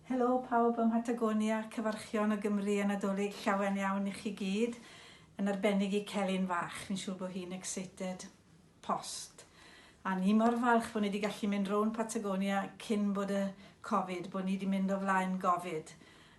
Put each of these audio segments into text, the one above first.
Helo pawb ym Mhatagonia, cyfarchion o Gymru a Nadolig llawen iawn i chi gyd, yn arbennig i Celyn fach, fi'n siŵr bod hi'n excited post. A ni mor falch bod ni wedi gallu mynd rownd Patagonia cyn bod y Covid, bod ni wedi mynd o flaen Gofid.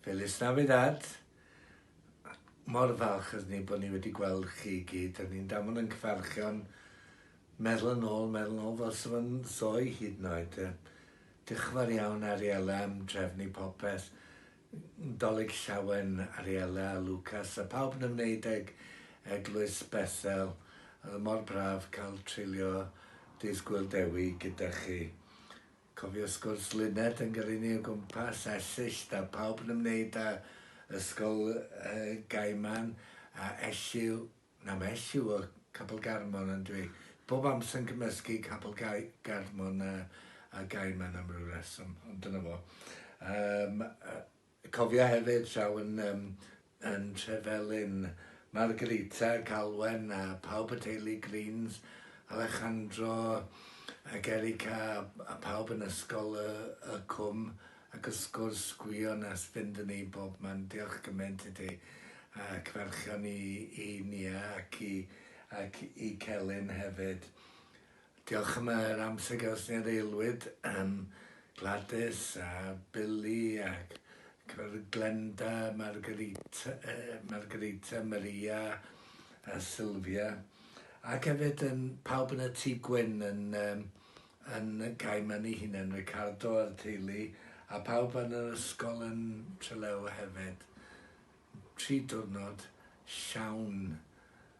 Feliz Navidad! Mor falch ydyn ni bod ni wedi gweld chi i gyd. Ydyn ni'n damon yn cyfarchion meddwl yn ôl, meddwl yn ôl fel sy'n fy nzoi hyd yn oed. Diolch yn fawr iawn Ariella am drefnu popeth. Dolig Llawen, Ariella, Lucas a pawb yn ymwneud ag Eglwys Bethel. Oedd mor braf cael treulio dydd Gwyl Dewi gyda chi. Cofio sgwrs Lynette yn gyrru ni o gwmpas Esyllt a pawb yn ymwneud â Ysgol Gaiman a Elliw, na mae Elliw o Capel Garmon on'd yw i? Bob amser yn cymysgu Capel Garmon a Gaiman am ryw reswm, ond dyna fo. Yym. Cofia hefyd draw yn yym yn Trevelin, Margarita, Galwen a pawb y teulu Greens, Alejandro ac Erica a pawb yn ysgol y y cwm ac wrth gwrs Gwion a Sbindwn i bobman diolch gymaint i ti ac ferchion i i Nia ac i ac i Celyn hefyd. Diolch am yr amser gyda ni ar Aelwyd, yym Gwladys a Billy ac cyfarwyddyd Glenda, Margarita, Margarita, Maria a Sylvia ac hefyd yn pawb yn y Tŷ Gwyn yn um, yn Gaiman ei hunain, Ricardo a'r teulu, a pawb yn yr ysgol yn Trelew hefyd. Tri diwrnod llawn